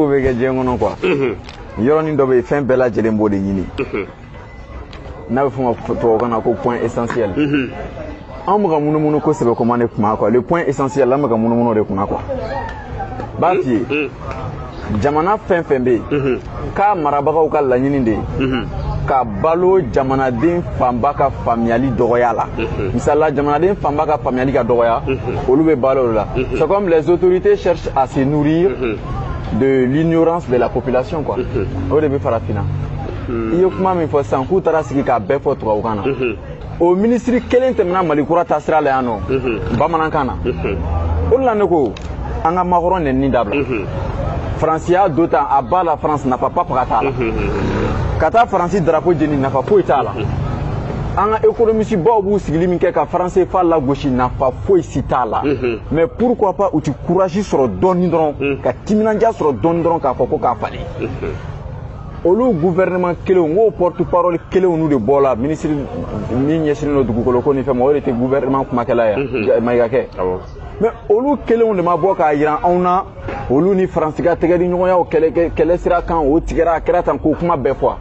ko bɛ kɛ diɲɛ kɔnɔ quoi yɔrɔnin dɔ bɛ yen fɛn bɛɛ lajɛlen b'o de ɲini n'a bɛ f'o ma tubabukan na ko point essentiel an bɛ ka munumunu kosɛbɛ kuma de kunna quoi le point essentiel an bɛ ka munumunu de kunna quoi n b'a f'i ye jamana fɛn fɛn bɛ yen k'a marabagaw ka laɲini de ye ka balo jamanaden fanba ka faamuyali dɔgɔya la misali la jamanaden fanba ka faamuyali ka dɔgɔya olu bɛ balo o la c'est comme les autorités cherchent à se nourrir de l'ignorance de la population quoi mhm. o de bɛ farafinna mhm. i ye kuma min fɔ sisan k'u taara sigi k'a bɛɛ fɔ tubabukan na mhm. o minisiri kelen tɛmɛna mali kura taasira la yan nɔ bamanankan na o de la ne ko an ka macron nɛnini dabila faransi y'a do tan à bas la france nafa papa ka t'a la ka taa faransi darapo jeni nafa foyi t'a la an ka ekonomisibaw b'u sigili min kɛ ka franc cfa lagosi nafa foyi si t'a la mais pourquoi pas u ti courage sɔrɔ dɔɔni dɔrɔn mm. ka timinanja sɔrɔ dɔɔni dɔrɔn k'a fɔ ko k'a falen mm-hmm. olu gouvernement kelenw k'o porte parole kelenw n'u de bɔ la ministre min ɲɛsinnen don dugukolo ko ni fɛn ma o de tɛ gouvernement kumakɛla ye mm-hmm. mayiga kɛ mais olu kelenw de ma bɔ k'a jira anw na olu ni faransi ka tɛgɛ di ɲɔgɔnyaw kɛlɛ sira kan o tigɛra a kɛra tan k'o kuma bɛɛ fɔ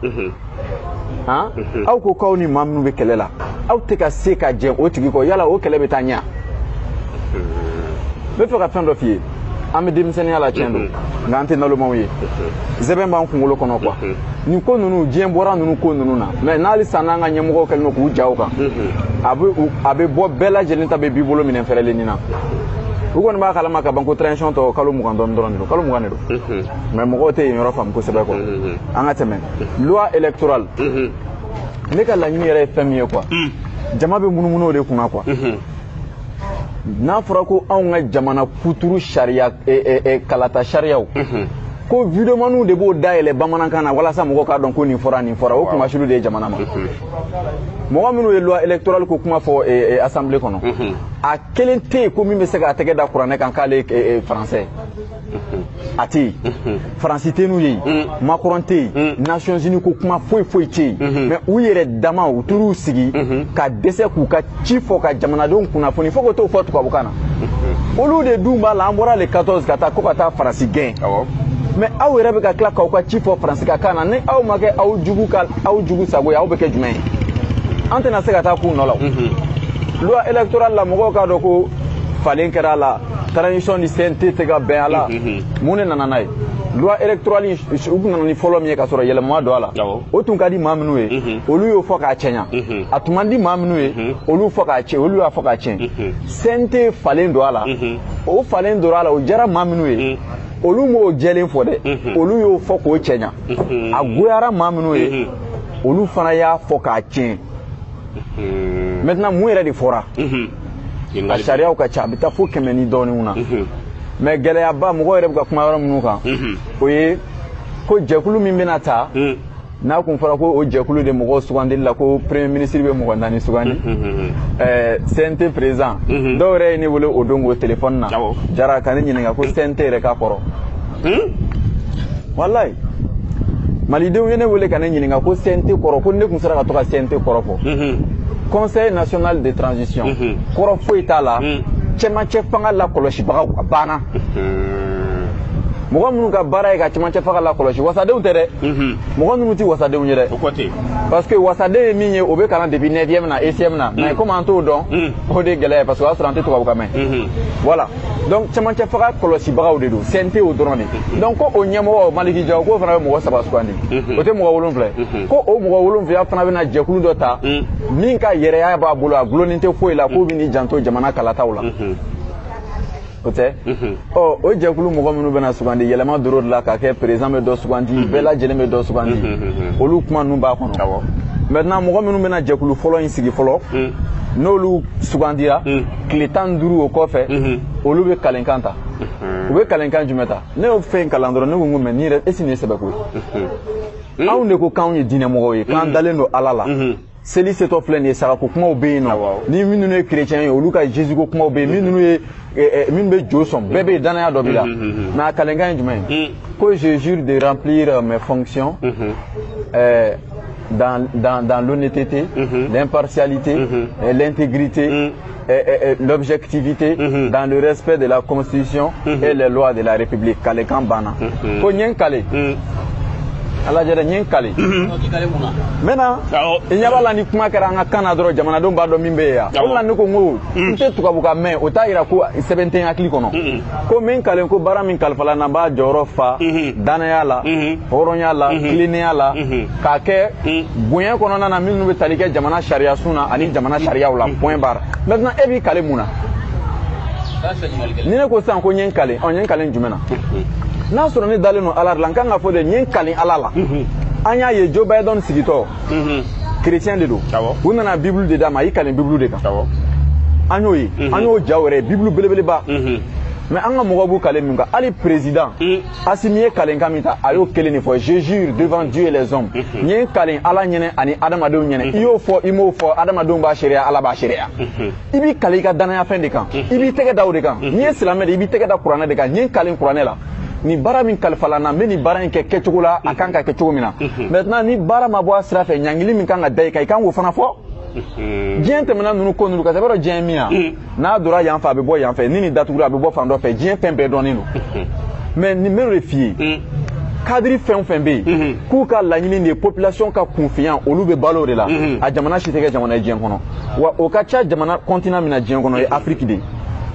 han aw ko k'aw ni maa minnu bɛ kɛlɛ la aw tɛ ka se ka jɛn o tigi kɔ yala o kɛlɛ bɛ taa ɲɛ n bɛ fɛ ka fɛn dɔ f'i ye an bɛ denmisɛnninya la tiɲɛ don nka an tɛ nalomaw ye sɛmɛ b'an kunkolo kɔnɔ quoi nin ko ninnu diɲɛ bɔra ninnu ko ninnu na mais n'ale san n'an ka ɲɛmɔgɔw kɛlen don k'u ja o kan a bɛ bɔ bɛɛ lajɛlen ta bɛ b'i bolo minɛn fɛrɛlen nin na u kɔni b'a kalama ka ban ko transition tɔ kalo mugan dɔɔni dɔrɔn de don kalo mugan de don mais mɔgɔw tɛ yen yɔrɔ faamu kosɛbɛ quoi an ka tɛmɛ loi électorale ne ka laɲini yɛrɛ ye fɛn min ye quoi jama bɛ munumunu o de kunna quoi n'a fɔra ko anw ka jamana kuturu sariya kalata sariyaw ko videomaniw de b'o dayɛlɛ bamanankan na walasa mɔgɔw k'a dɔn ko nin fɔra nin fɔra o kunmasuli de ye jamana ma mɔgɔ minnu ye loi électorale ko kuma fɔ eh, eh, assemblée kɔnɔ mhm. a kelen tɛ yen ko min bɛ se k'a tɛgɛ da kuranɛ kan k'ale ye eh, français mhm. a tɛ yen mhm. faransi tɛ n'u ye yen macron tɛ yen nations unies ko kuma foyi foyi tɛ yen mais u yɛrɛ dama u taar'u sigi ka dɛsɛ k'u ka ci fɔ ka jamanadenw kunnafoni fo ka t'o fɔ tubabukan na olu de dun b'a la an bɔra le 14 ka taa ko ka taa faransi gɛn mais aw yɛrɛ bɛ ka tila k'aw ka ci fɔ faransi ka kan na ni aw ma kɛ aw jugu ka aw jugu sago ye aw bɛ kɛ jumɛn ye an tɛna se ka taa k'u nɔ la loi électorale la mɔgɔw k'a dɔn ko falen kɛra a la transition ni cnt tɛ ka bɛn a la mun de nana n'a ye loi électorale u tun nana ni fɔlɔ min ye ka sɔrɔ yɛlɛma ma don a la o tun ka di maa minnu ye olu y'o fɔ k'a cɛɲa a tun man di maa minnu ye mhm. olu fɔ olu y'a fɔ k'a tiɲɛ mhm. cnt falen don a la mhm. o falen don a la o jara maa minnu ye olu m'o jɛlen fɔ dɛ olu y'o fɔ k'o cɛɲa a goyara maa minnu ye olu fana y'a fɔ k'a tiɲɛ maintenant mun yɛrɛ de fɔra a sariyaw ka ca a bɛ taa fo kɛmɛ ni dɔɔninw na mais gɛlɛyaba mɔgɔ yɛrɛ bɛ ka kuma yɔrɔ minnu kan o ye ko jɛkulu min bɛna ta n'a kun fɔra ko o jɛkulu de mɔgɔw sugandili la ko premier ministre bɛ mɔgɔ naani sugandi cnt président dɔw yɛrɛ ye ne wele o don o telefɔni na jara ka ne ɲininka ko cnt yɛrɛ ka kɔrɔ walayi malidenw ye ne wele ka ne ɲininka ko cnt kɔrɔ ko ne kun sera ka to ka cnt kɔrɔ fɔ conseil national de transition kɔrɔ foyi t'a la cɛmancɛ fanga lakɔlɔsibagaw a banna mɔgɔ minnu ka baara ye ka cɛmancɛ fanga lakɔlɔsi wasadenw tɛ dɛ mɔgɔ ninnu tɛ wasadenw ye dɛ parce que wasaden ye min ye o bɛ kalan depuis neuvième na ECM na mais komi an t'o dɔn o de ye gɛlɛya ye parce que o y'a sɔrɔ an tɛ tubabukan mɛn voilà donc cɛmancɛ fanga kɔlɔsibagaw de don CNT o dɔrɔn de donc ko o ɲɛmɔgɔ Maliki Jawo k'o fana bɛ mɔgɔ saba sugandi o tɛ mɔgɔ wolonwula ye ko o mɔgɔ wolonwula fana bɛna jɛkulu dɔ ta min ka yɛrɛya b'a bolo a gulonnin tɛ foyi la k'o bɛn'i janto jamana kalataw la o tɛ ɔ o jɛkulu mɔgɔ minnu bɛna sugandi yɛlɛma dor'o de la k'a kɛ président bɛ dɔ sugandi bɛɛ lajɛlen bɛ dɔ sugandi olu kuma ninnu b'a kɔnɔ maintenant mɔgɔ minnu bɛna jɛkulu fɔlɔ in sigi fɔlɔ n'olu sugandira tile tan ni duuru o kɔfɛ olu bɛ kalenkan ta u bɛ kalenkan jumɛn ta ne y'o fɛn kalan dɔrɔn ne ko n ko mais nin yɛrɛ est-ce nin ye sɛbɛko ye anw de ko k'anw ye diinɛmɔgɔw ye k'an dalen don ala la seli setɔ filɛ nin ye sagako kumaw bɛ yen nɔ ni minnu ye kerecɛn ye olu ka jésus ko kumaw bɛ yen minnu ye minnu bɛ jo sɔn bɛɛ bɛ yen danaya dɔ b'i la mais a kalenkan ye jumɛn ye ko je jure de remplir euh, mes fonctions euh, dans, dans, dans l'honnêteté, mm -hmm. l'impartialité, mm -hmm. l'intégrité, mm -hmm. euh, euh, euh, l'objectivité mhm. dans le respect de la constitution mhm. et les lois de la république kalenkan banna mhm. ko n ye n kale a lajɛ dɛ n ye n kale maintenant i ɲɛ b'a la ni kuma kɛra an ka kan na dɔrɔn jamanadenw b'a dɔn min bɛ yen yan o la ne ko n ko n tɛ tubabukan mɛn o t'a yira ko sɛbɛ tɛ n hakili kɔnɔ ko n bɛ n kalen ko baara min kalifala n na n b'a jɔyɔrɔ fa danaya la hɔrɔnya la tilennenya la k'a kɛ bonya kɔnɔna na minnu bɛ tali kɛ jamana sariyasun na ani jamana sariyaw la point barre maintenant e b'i kale mun na ni ne ko sisan ko n ye n kale ɔ n ye n kale jumɛn na n'a sɔrɔ ne dalen don ala de la n kan k'a fɔ de n ye n kale ala la an y'a ye joe biden sigitɔ chrétien de don u nana bibulu de d'a ma i kale bibulu de kan an y'o ye an y'o jaw yɛrɛ ye bibulu belebeleba mais an ka mɔgɔw b'u kale min kan hali président asimi ye kalenkan min ta a y'o kelen de fɔ je jure devant dieu et les hommes n ye n kalen ala ɲɛ na ani adamadenw ɲɛ na i y'o fɔ i m'o fɔ adamadenw b'a seereya ala b'a seereya i b'i kale i ka danayafɛn de kan i b'i tɛgɛ da o de kan n'i ye silamɛ de i b'i tɛgɛ da kuranɛ de kan n ye n kalen kuranɛ la ni baara min kalifala n na n bɛ nin baara in kɛ kɛcogo la a kan ka kɛ cogo min na maintenant ni baara ma bɔ a sira fɛ ɲangili min kan ka da i kan i kan k'o fana fɔ diɲɛ tɛmɛna ninnu ko ninnu k'a sɛbɛ dɔn diɲɛ ye min ye n'a donna yan fɛ a bɛ bɔ yan fɛ ni nin datugura a bɛ bɔ fan dɔ fɛ diɲɛ fɛn bɛɛ dɔnnen don mais ne b'o de f'i ye hmm. cadre fɛn o fɛn bɛ yen hmm. k'u ka laɲini de ye population ka kunfinya olu bɛ balo o de la hmm. a jamana si tɛ kɛ jamana ye diɲɛ kɔnɔ wa o ka ca jamana continent min na diɲɛ kɔnɔ o ye afiriki de ye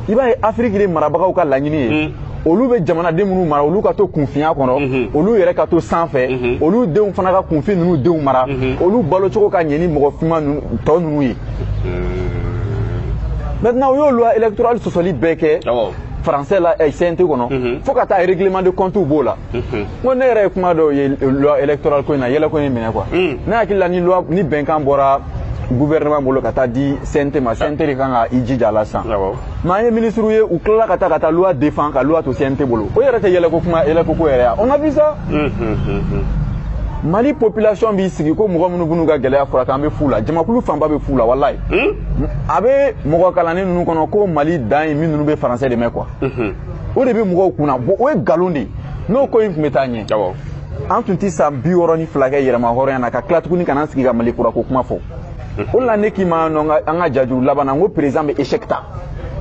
i b'a ye afiriki de marabagaw ka laɲini ye olu bɛ jamanaden minnu mara olu ka to kunfinya kɔnɔ mhm. olu yɛrɛ ka to sanfɛ mhm. olu denw fana ka kunfin ninnu denw mara mhm. olu balo cogo ka ɲɛ ni mɔgɔ finman tɔ ninnu ye maintenant u y'o loi électorale sɔsɔli bɛɛ kɛ français la eh, CNT kɔnɔ fo ka taa règlement de compte b'o la n ko ne yɛrɛ ye kuma dɔw ye loi électorale ko in na yɛlɛko ye n minɛ quoi mm. ne hakili la ni bɛnkan bɔra gouvernement bolo ka taa di CNT ma CNT de kan ka i jija a la sisan mais an ye minisiriw ye u tilala ka taa ka taa loi défendre ka loi to CNT bolo o yɛrɛ tɛ yɛlɛko kuma yɛlɛko ko yɛrɛ ya on a vu ça mali population b'i sigi ko mɔgɔ minnu b'u ka gɛlɛya furakɛ an bɛ fu la jamakulu fanba bɛ fu la walayi a bɛ mɔgɔ kalannen ninnu kɔnɔ ko mali dan ye min ninnu bɛ français de mɛn quoi o de bɛ mɔgɔw kunna bon o ye nkalon de ye n'o ko in tun bɛ taa ɲɛ an tun tɛ san bi wɔɔrɔ ni fila kɛ yɛrɛmahɔrɔnya na ka tila tuguni ka na an sigi ka mali kurako kuma fɔ o la ne k'i ma nɔ an ka jajuru laban na n ko président bɛ échec ta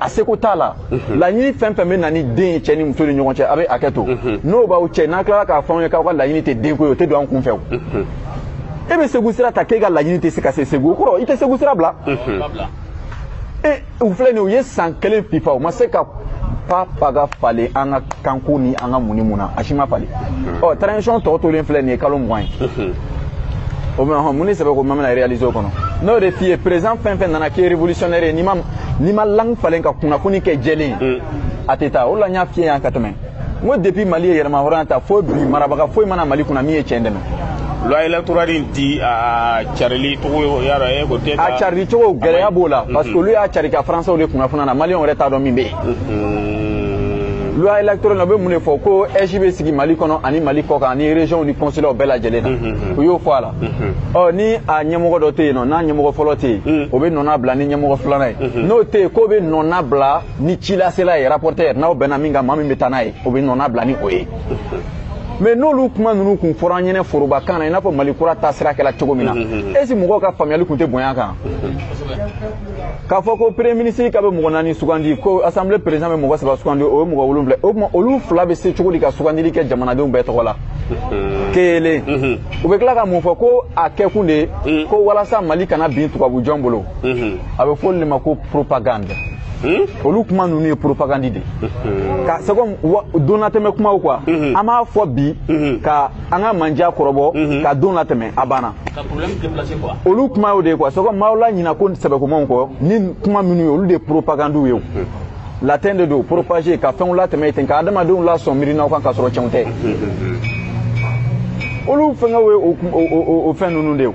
a seko t'a la mhm. laɲini fɛn fɛn bɛ na ni den ye cɛ ni muso ni ɲɔgɔn cɛ a bɛ hakɛ to mhm. n'o b'aw cɛ n'a tilala k'a fɔ anw ye k'aw ka laɲini tɛ denko ye o tɛ don an kun fɛ o mhm. e bɛ segu sira ta k'e ka laɲini tɛ se ka se segu o kɔrɔ i tɛ segu sira bila u filɛ nin u ye san kelen fifa u ma se ka pa paga falen an ka kanko ni an ka mun ni mun na a si ma falen ɔ transition tɔ tolen filɛ nin ye kalo mugan ye o bɛ hɔn mun de sɛbɛ ko ma bɛna réaliser o kɔnɔ n'o de f'i ye président fɛn fɛn nana k'i ye révolutionnaire ye n'i ma n'i ma langue falen ka kunnafoni kɛ jɛlen ye a tɛ taa o de la n y'a f'i ye yan ka tɛmɛ n ko depuis mali ye yɛrɛmahɔrɔnya ta fo bi marabaga foyi ma na mali kunna min ye cɛn dɛmɛ loi électorale in ti a carili cogo y'a dɔn e ko tɛ a carili cogo gɛlɛya b'o la parce que olu y'a cari ka français de kunnafoniya na maliyɛnw yɛrɛ t'a dɔn min bɛ yen loi électorale la u bɛ mun de fɔ ko AIGE bɛ sigi mali kɔnɔ ani mali kɔ kan ani région ni consulaw bɛɛ lajɛlen na u y'o fɔ a la ɔ ni a ɲɛmɔgɔ dɔ tɛ yen nɔ n'a ɲɛmɔgɔ fɔlɔ tɛ yen o bɛ nɔnna bila ni ɲɛmɔgɔ filanan ye n'o tɛ yen k'o bɛ nɔnna bila ni cilasela ye rapporteur n'aw bɛnna min kan maa min bɛ taa n'a ye o bɛ nɔnna bila ni o ye mais n'olu kuma ninnu kun fɔra an ɲɛnɛ forobakan na i n'a fɔ mali kura taasira kɛla cogo min na est-ce mɔgɔw ka faamuyali kun tɛ bonya kan k'a fɔ ko premier ministre ka bɛ mɔgɔ naani sugandi ko assemblée président bɛ mɔgɔ saba sugandi o ye mɔgɔ wolonwula o tuma olu fila bɛ se cogo di ka sugandili kɛ jamanadenw bɛɛ tɔgɔ la kelen u bɛ tila ka mun fɔ ko a kɛkun de ye ko walasa mali kana bin tubabujɔn bolo a bɛ fɔ o de ma ko propagande Hmm? olu kuma ninnu ye propagandi de hmm. ka c'est comme don latɛmɛ kumaw quoi hmm. an b'a fɔ bi ka an ka manja kɔrɔbɔ ka don latɛmɛ a banna olu kuma y'o de ye quoi c'est comme maaw laɲina ko sɛbɛkomanw kɔ ni kuma minnu ye olu de ye propagandiw ye latin de don propager ka fɛnw latɛmɛ ten ka adamadenw lasɔn miirinaw kan ka sɔrɔ cɛnw tɛ olu fɛngɛw ye o fɛn ninnu de ye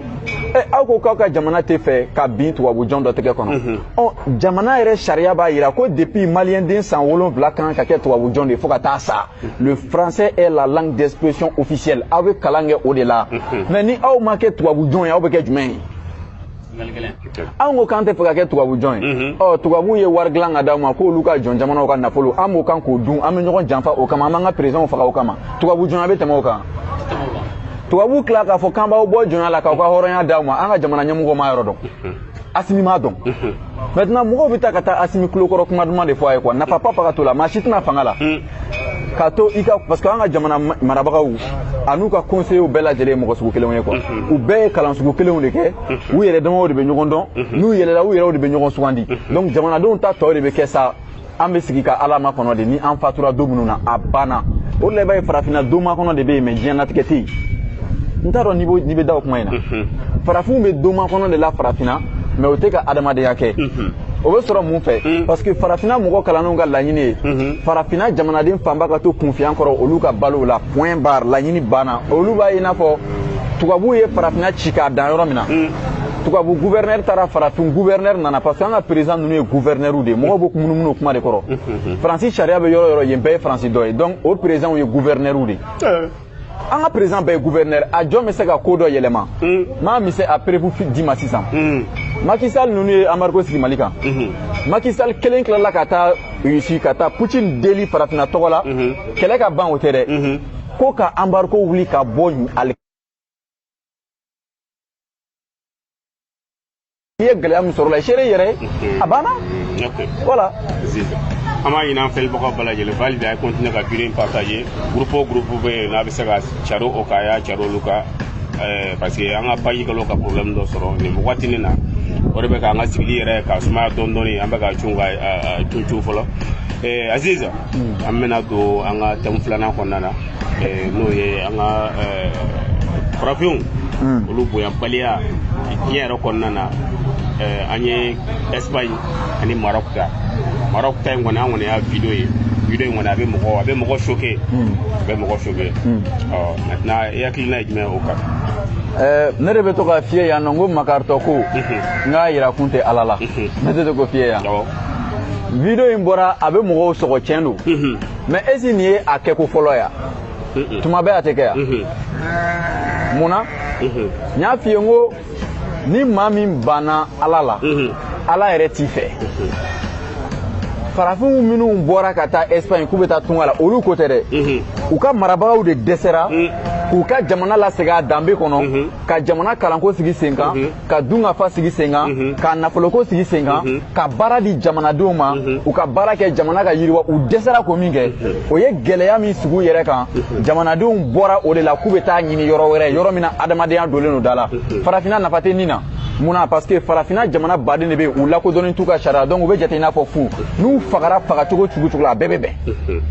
Eh, aw ko k'aw ka jamana tɛ fɛ ka bin tubabujɔn dɔ tɛgɛ kɔnɔ mhm. ɔ jamana yɛrɛ sariya b'a jira ko depuis maliyɛnden san wolonfila kan ka kɛ tubabujɔn de fo ka taa sa mhm. le français est la langue d'expression officielle aw bɛ kalan kɛ o de la mhm. mais ni aw ma kɛ tubabujɔn ye aw bɛ kɛ jumɛn ye anw ko k'an tɛ fɛ ka kɛ tubabu jɔn ye ɔ tubabuw ye wari dilan ka d'aw ma k'olu ka jɔn jamanaw ka nafolo an b'o kan k'o dun an bɛ ɲɔgɔn janfa o kama an b'an ka présidentw faga o kama tubabu jɔnya bɛ tɛmɛ o kan tubabu tila k'a fɔ k'an b'aw bɔ jɔnya la k'aw ka hɔrɔnya d'aw ma an ka jamana ɲɛmɔgɔ m'a yɔrɔ dɔn asimi m'a dɔn maintenant mɔgɔw bɛ taa ka taa asimi kulokɔrɔ kuma duman de fɔ a ye quoi nafa pa pa ka to la maa si tɛ na fanga la k'a to i ka parce que an ka jamana marabagaw an'u ka conseillers bɛɛ lajɛlen ye mɔgɔ sugu kelenw ye quoi u bɛɛ ye kalan sugu kelenw de kɛ u yɛrɛ damaw de bɛ ɲɔgɔn dɔn n'u yɛlɛla u yɛrɛw de bɛ ɲɔgɔn sugandi donc jamanadenw ta tɔ de bɛ kɛ sa an bɛ sigi ka ala makɔnɔ de ni an fatura don minnu na a banna o de la i b'a ye farafinna don makɔnɔ de bɛ yen mais diɲɛnatigɛ tɛ yen n t'a dɔn n'i bɛ da o kuma in na farafinw bɛ don makɔnɔ de la farafinna mais u tɛ ka adamadenya kɛ o bɛ sɔrɔ mun fɛ hmm. parce que farafinna mɔgɔ kalannenw ka laɲini ye hmm. farafinna jamanaden fanba ka to kunfinya kɔrɔ olu ka balo o la point barre laɲini banna olu b'a ye i n'a fɔ tubabuw ye farafinna ci k'a dan yɔrɔ min na hmm. tubabu gouverneur taara farafin gouverneur nana parce que an ka président ninnu ye gouverneur de ye mɔgɔw bɛ munumunu o kuma de kɔrɔ faransi sariya bɛ yɔrɔ o yɔrɔ yen bɛɛ ye faransi dɔ ye donc o présidentw ye gouverneur de ye eh. an ka président bɛɛ ye gouverneur a jɔn bɛ se ka ko dɔ yɛlɛma hmm. m'a misɛ a preuve d'i ma sisan hmm. Macky Sall ninnu ye embargo sigi Mali kan hmm. Macky Sall kelen tilala ka taa Russie ka taa Poutine deli farafinna tɔgɔ la kɛlɛ ka ban o tɛ dɛ ko ka embargo wuli ka bɔ ale i ye gɛlɛya min sɔrɔ la i seere i yɛrɛ ye a banna voilà an b'a ɲini an filɛbagaw bɛɛ lajɛlen fɛ hali bi a ye continuer ka video in partager groupe o groupe bɛ yen n'a bɛ se ka cari o kan a y'a cari olu kan parce que an ka page kɛlen ka problème dɔ sɔrɔ nin wagati nin na o de bɛ k'an ka sigili yɛrɛ ka sumaya dɔɔni dɔɔni an bɛ ka cun ka cun cun fɔlɔ aziz an bɛna don an ka thème filanan kɔnɔna na n'o ye an ka farafinw hmm. olu bonyabaliya diɲɛ yɛrɛ kɔnɔna na an ye espagne ani maroc ta maroc ta in kɔni an kɔni y'a video ye video in kɔni a bɛ mɔgɔ a bɛ mɔgɔ choqué hmm. a bɛ mɔgɔ choqué hmm. ɔ maintenant i hakilina ye jumɛn o kan Eh, ne de bɛ to k'a f'i ye yan nɔ n ko makaritɔ ko n k'a yira kun tɛ ala la ne tɛ to k'o f'i ye yan video in bɔra a bɛ mɔgɔw sɔgɔ tiɲɛ don mais est-ce nin ye a kɛko fɔlɔ ya tuma bɛɛ a tɛ kɛ ya mun na n y'a f'i ye n ko ni maa min banna ala la ala yɛrɛ t'i fɛ farafinw minnu bɔra ka taa espagne k'u bɛ taa tunga la olu ko tɛ dɛ mhm. u ka marabagaw de dɛsɛra mhm. k'u ka jamana lasegin a danbe kɔnɔ mhm. ka jamana kalanko sigi sen kan ka dunkafa sigi sen kan mhm. ka nafoloko sigi sen kan mhm. ka baara di jamanadenw ma mhm. u ka baara kɛ jamana ka yiriwa u dɛsɛra ko min kɛ o ye gɛlɛya min sigi u yɛrɛ kan jamanadenw bɔra o de la k'u bɛ taa ɲini yɔrɔ wɛrɛ yɔrɔ min na adamadenya donnen don da la farafinna nafa tɛ nin na mun na parce que farafinna jamana baden de bɛ yen u lakodɔnnen t'u ka sariya donc u bɛ jate i n'a fɔ fu n'u fagara fagacogo cogo cogo la a bɛɛ bɛ bɛn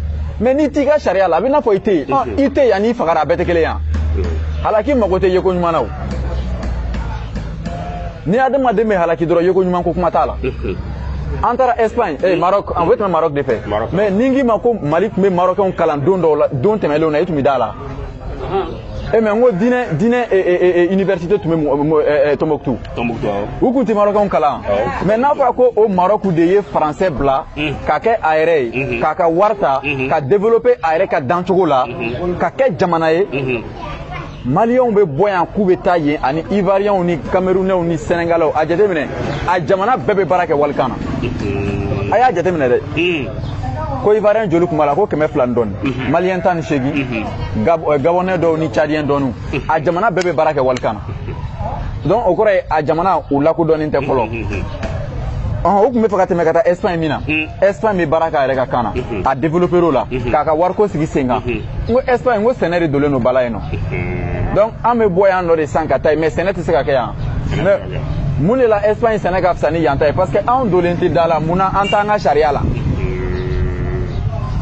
mais n'i t'i ka sariya la a bɛ i n'a fɔ i tɛ yen i tɛ yen ani i fagara a bɛɛ tɛ kelen yan halaki mago tɛ yeko ɲuman na o ni adamaden bɛ halaki dɔrɔn yeko ɲuman ko kuma t'a la an taara espagne eh, maroc an bɛ tɛmɛ maroc de fɛ mais ni n k'i ma ko mali tun bɛ marokɛnw kalan don dɔw la don tɛmɛlenw na i tun bɛ d'a la e mais n ko diinɛ diinɛ université tun bɛ tombouctou u tun tɛ marokɛnw kalan mais n'a fɔra ko o maroc de ye français bila ka kɛ a yɛrɛ ye k'a ka wari ta ka développer a yɛrɛ ka dancogo la ka kɛ jamana ye maliyɛnw bɛ bɔ yan k'u bɛ taa yen ani ivariyɛnw ni kamerunɛw ni sɛnɛgalɛw a jateminɛ a jamana bɛɛ bɛ baara kɛ walikan na a y'a jateminɛ dɛ ko ivariyɛn joli tun b'a la ko kɛmɛ fila ni dɔɔni maliyɛn tan ni seegin gabɔnɛ dɔw ni cadiyɛn dɔɔniw a jamana bɛɛ bɛ baara kɛ walikan na donc o kɔrɔ ye a jamana u lakodɔnnen tɛ fɔlɔ u tun bɛ fɛ ka tɛmɛ ka taa espagne min na espagne bɛ baara k'a yɛrɛ ka kan na a développer o la k'a ka wariko sigi sen kan n ko espagne n ko sɛnɛ de dolen don ba la yen nɔ donc an bɛ bɔ yan nɔ de san ka taa yen mais sɛnɛ tɛ se ka kɛ yan mais mun de la espagne sɛnɛ ka fisa ni yan ta ye parce que anw dolen tɛ da la mun na an t'an ka sariya la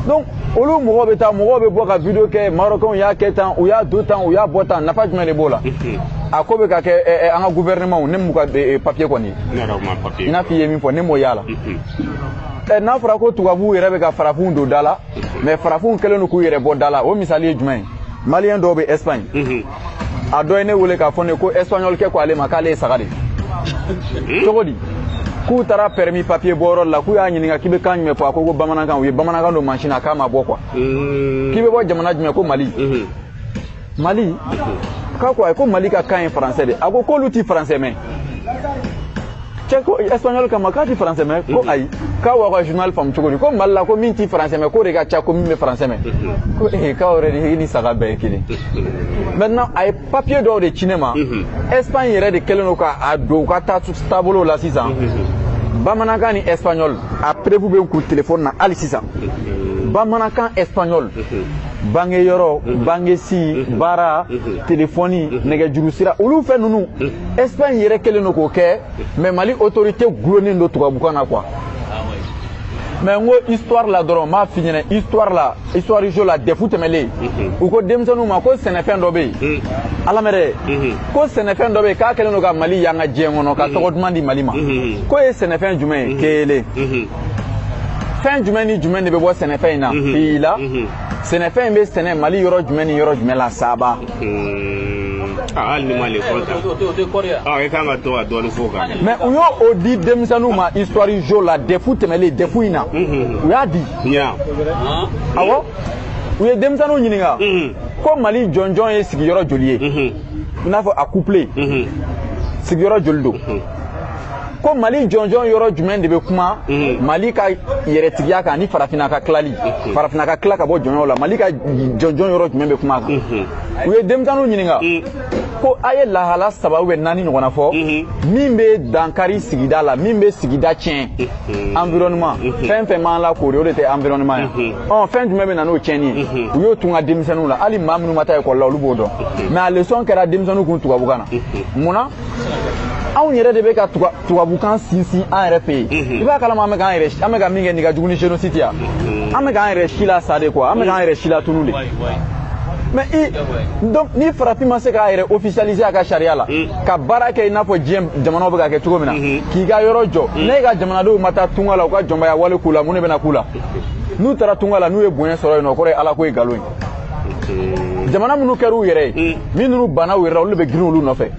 donc olu mɔgɔw bɛ taa mɔgɔw bɛ bɔ ka video kɛ marokɛnw y'a kɛ tan u y'a don tan u y'a bɔ tan nafa jumɛn de b'o la a ko bɛ ka kɛ eh, eh, an ka gouvernement ne m'u ka eh, papier kɔni i n'a fɔ i ye min fɔ ne m'o y'a la n'a fɔra ko tubabuw yɛrɛ bɛ ka farafinw don da la mais farafinw kɛlen don k'u yɛrɛ bɔ da la o misali ye jumɛn ye malien dɔw bɛ espagne mhm. a dɔ ye ne wele k'a fɔ ne ko espagnol kɛ ko ale ma k'ale ye saga de mhm. cogo di k'u taara permis papier bɔyɔrɔ la k'u y'a ɲininka k'i bɛ kan jumɛn fɔ a ko ko bamanankan u ye bamanankan don mansin na k'a ma bɔ quoi mhm. k'i bɛ bɔ jamana jumɛn ko mali mali k'a ko ayi ko mali ka kan ye français de a ko k'olu ti français mɛn cɛ ko espagnol k'a ma k'a ti français mɛn ko ayi k'aw b'aw ka journal faamu cogo di ko mali la ko min ti français mɛn k'o de ka ca ko min bɛ français mɛn ko ee k'aw yɛrɛ de ni saga bɛɛ ye kelen maintenant a ye papier dɔw de ci ne ma espagne yɛrɛ de kɛlen don k'a don u ka taabolo la sisan bamanankan ni espagnol a preuve bɛ n kun telefɔni na hali sisan bamanankan espagnol bange yɔrɔ mhm. bangesi mhm. baara mhm. telefɔni nɛgɛjuru sira olu fɛn ninnu espagne yɛrɛ kɛlen don k'o kɛ mais mali autorité gulonnen don tubabukan na quoi mais n ko histoire la dɔrɔn n b'a f'i ɲɛna histoire la histoire géo la dɛfu tɛmɛlen u ko denmisɛnninw ma ko sɛnɛfɛn dɔ bɛ yen alamɛrɛ ko sɛnɛfɛn dɔ bɛ yen k'a kɛlen don ka mali yanga diɲɛ kɔnɔ ka tɔgɔ duman di mali ma k'o ye sɛnɛfɛn jumɛn ye kelen fɛn jumɛn ni jumɛn de bɛ bɔ sɛnɛfɛn in na fila sɛnɛfɛn in bɛ sɛnɛ mali yɔrɔ jumɛn ni yɔrɔ jumɛn la saba hali n'i ma lekɔli ta ɔ i kan ka to ka dɔɔni f'o kan mais u y'o di denmisɛnninw ma histoire géo la dɛfu tɛmɛlen dɛfu in na u y'a di awɔ u ye denmisɛnninw ɲininka ko mali jɔnjɔn ye sigiyɔrɔ joli ye i n'a fɔ a couplet sigiyɔrɔ joli don ko mali jɔnjɔn yɔrɔ jumɛn de bɛ kuma mhm. mali ka yɛrɛtigiya kan ani farafinna ka tilali mhm. farafinna ka tila ka bɔ jɔnya la mali ka jɔnjɔn yɔrɔ jumɛn bɛ kuma kan mhm. u ye denmisɛnninw ɲininka ko a ye lahala saba ou bien naani ɲɔgɔnna fɔ min bɛ dankari sigida la min bɛ sigida tiɲɛ environnement fɛn fɛn b'an lakoori o de tɛ environnement ye ɔ fɛn jumɛn bɛ na n'o tiɲɛni ye u y'o tun ka denmisɛnninw la hali maa minnu ma taa ekɔli la olu b'o dɔn mais a leçon kɛra denmisɛnninw kun tubabukan na mun na anw yɛrɛ de bɛ ka tubabukan sinsin an yɛrɛ fɛ yen i b'a kalama an bɛ k'an yɛrɛ an bɛ ka min kɛ nin ka jugu ni génocide ya an bɛ k'an yɛrɛ silasa de quoi an bɛ k'an yɛrɛ silatunu de mais donc ni farafin ma se k'a yɛrɛ officialiser a ka sariya la ka baara kɛ i n'a fɔ diɲɛ jamanaw bɛ ka kɛ cogo min na k'i ka yɔrɔ jɔ ne ka jamanadenw ma taa tunga la u ka jɔnbaya wale k'u la mun de bɛna k'u la n'u taara tunga la n'u ye bonya sɔrɔ yen nɔ o kɔrɔ ye ala ko ye nkalon ye jamana minnu kɛra u yɛrɛ ye min ninnu banna u yɛrɛ la olu de bɛ girin olu nɔfɛ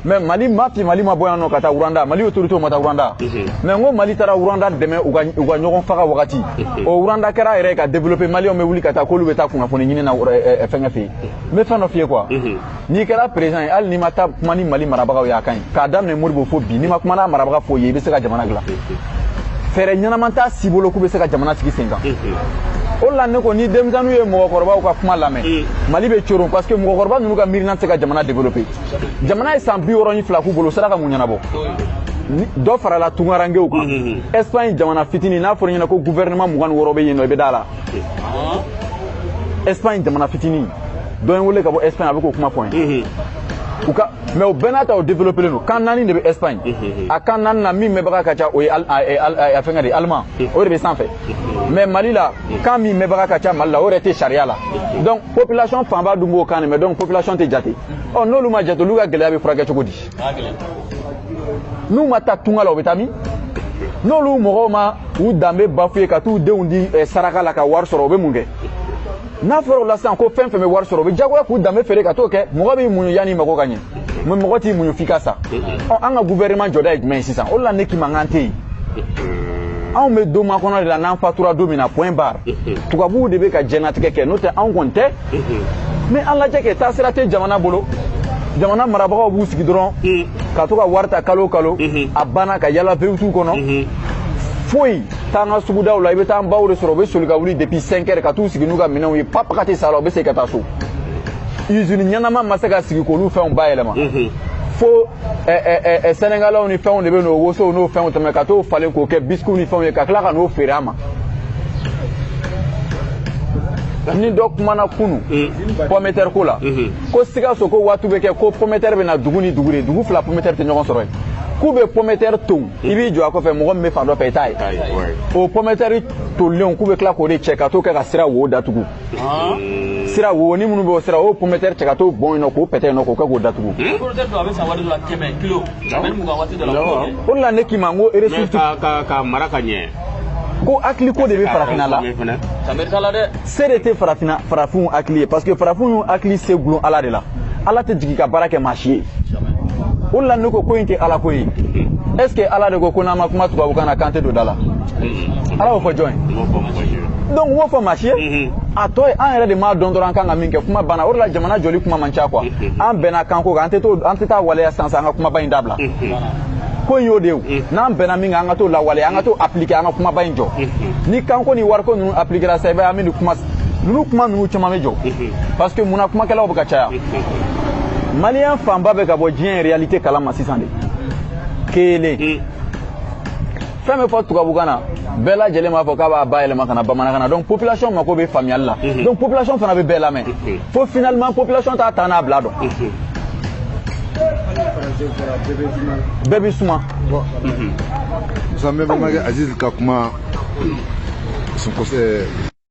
mais mali ma fi mali ma bɔ yan nɔ ka taa rwanda mali autoritéw ma taa rwanda mais n ko mali taara rwanda dɛmɛ u ka ɲɔgɔn faga wagati o rwanda kɛra yɛrɛ ka développer maliyɛnw bɛ wuli ka taa k'olu bɛ taa kunnafoni ɲini na fɛngɛ fɛ yen n bɛ fɛn dɔ f'i ye quoi n'i kɛra président ye hali n'i ma taa kuma ni mali marabagaw ye a ka ɲi k'a daminɛ modibo fo bi n'i ma kuma n'a marabaga foyi ye i bɛ se ka jamana dilan fɛɛrɛ ɲɛnama t'a si bolo k'u bɛ se ka jamana sigi sen kan o la ne ko ni denmisɛnninw ye mɔgɔkɔrɔbaw ka kuma lamɛn mali bɛ coron parce que mɔgɔkɔrɔba ninnu ka miirina tɛ se ka jamana développer jamana ye san bi wɔɔrɔ ni fila k'u bolo sera ka mun ɲɛnabɔ dɔ farala tungarankew kan espagne jamana fitini n'a fɔra ɲɛna ko gouvernement mugan ni wɔɔrɔ bɛ yen nɔ i bɛ d'a la espagne jamana fitini dɔ ye n wele ka bɔ espagne a bɛ k'o kuma fɔ n ye mais o bɛɛ n'a ta o développelen don kan naani de bɛ espagne a kan naani na min mɛnbaga ka ca o ye a fɛngɛ de allemand o de bɛ sanfɛ mais mali la kan min mɛnbaga ka ca mali la o yɛrɛ tɛ sariya la donc population fanba dun b'o kan de mɛn donc population tɛ jate ɔ n'olu ma jate olu ka gɛlɛya bɛ furakɛ cogo di n'u ma taa tunga la u bɛ taa min n'olu mɔgɔw ma u danbe bafouer ka t'u denw di eh, saraka la ka wari sɔrɔ u bɛ mun kɛ n'a fɔra o la sisan ko fɛn fɛn bɛ wari sɔrɔ o bɛ diyagoya k'u danbe feere ka t'o kɛ mɔgɔ b'i muɲu yanni mago ka ɲɛ mais mɔgɔ t'i muɲu f'i ka sa ɔ an ka gouvernement jɔda ye jumɛn ye sisan o de la ne k'i ma k'an tɛ yen anw bɛ don makɔnɔ de la n'an fatura don min na point barre tubabuw de bɛ ka jɛnatigɛ kɛ n'o tɛ anw kɔni tɛ mais an lajɛ kɛ taasira tɛ jamana bolo jamana marabagaw b'u sigi dɔrɔn ka to ka wari ta kalo o kalo a banna ka yala V8 kɔnɔ foyi taa an ka sugudaw la i bɛ taa an baw de sɔrɔ u bɛ soli ka wuli depuis 5 heures ka t'u sigi n'u ka minɛnw ye pap ka tɛ sa la u bɛ segin ka taa so usine ɲɛnama ma se ka sigi k'olu fɛnw bayɛlɛma fo sɛnɛgalɛw ni fɛnw de bɛ n'o wosow n'o fɛnw tɛmɛ ka t'o falen k'o kɛ bisikiw ni fɛnw ye ka tila ka n'o feere an ma ni dɔ kumana kunu mm. pometɛri ko la mm-hmm. ko sikaso ko waati bɛ kɛ ko pometɛri bɛ na dugu ni dugu de dugu fila pometɛri tɛ ɲɔgɔn sɔrɔ yen k'u bɛ pometɛri ton i b'i jɔ a kɔfɛ mɔgɔ min bɛ fan dɔ fɛ i t'a ye o pɔmɛtɛri tolilenw k'u bɛ tila k'o de cɛ ka t'o kɛ ka sira wo datugu sira wo ni minnu bɛ o sira o pɔmɛtɛri cɛ ka t'o bɔn yen nɔ k'o pɛtɛ yen nɔ k'o kɛ k'o datugu o de la ne k'i ma n ko eresifiti ka mara ka ɲɛ ko hakili ko de bɛ farafinna la se de tɛ farafinna farafinw hakili ye parce que farafinw hakili sigilen ala de la ala tɛ jigin ka baara kɛ maa si ye o de la ne ko ko in tɛ ala ko ye est ce que ala de ko ko n'an ma kuma tubabukan na k'an tɛ don da la ala y'o fɔ jɔn ye donc a m'o fɔ maa si ye a tɔ ye an yɛrɛ de m'a dɔn dɔrɔn an kan ka min kɛ kuma banna o de la jamana jɔli kuma man ca quoi an bɛnna kan ko kan an tɛ to an tɛ t'a waleya sisan sisan an ka kumaba in dabila ko in y'o de ye n'an bɛnna min kan an ka t'o lawale an ka t'o appliquer an ka kumaba in jɔ ni kanko ni wariko ninnu appliquera sa i b'a ye an bɛ nin kuma ninnu kuma ninnu caman bɛ jɔ parce que munna kumakɛlaw bɛ ka caya maliyɛn fanba bɛ ka bɔ diɲɛ réalité kalama sisan de kelen fɛn bɛ fɔ tubabukan na bɛɛ lajɛlen b'a fɔ k'a b'a bayɛlɛma ka na bamanankan na donc population mako bɛ faamuyali la mhm. donc population fana bɛ bɛɛ lamɛn mhm. fo finalement population t'a ta n'a bila dɔn mhm. bɛɛ bɛ suma musa mbemba aziz ka kuma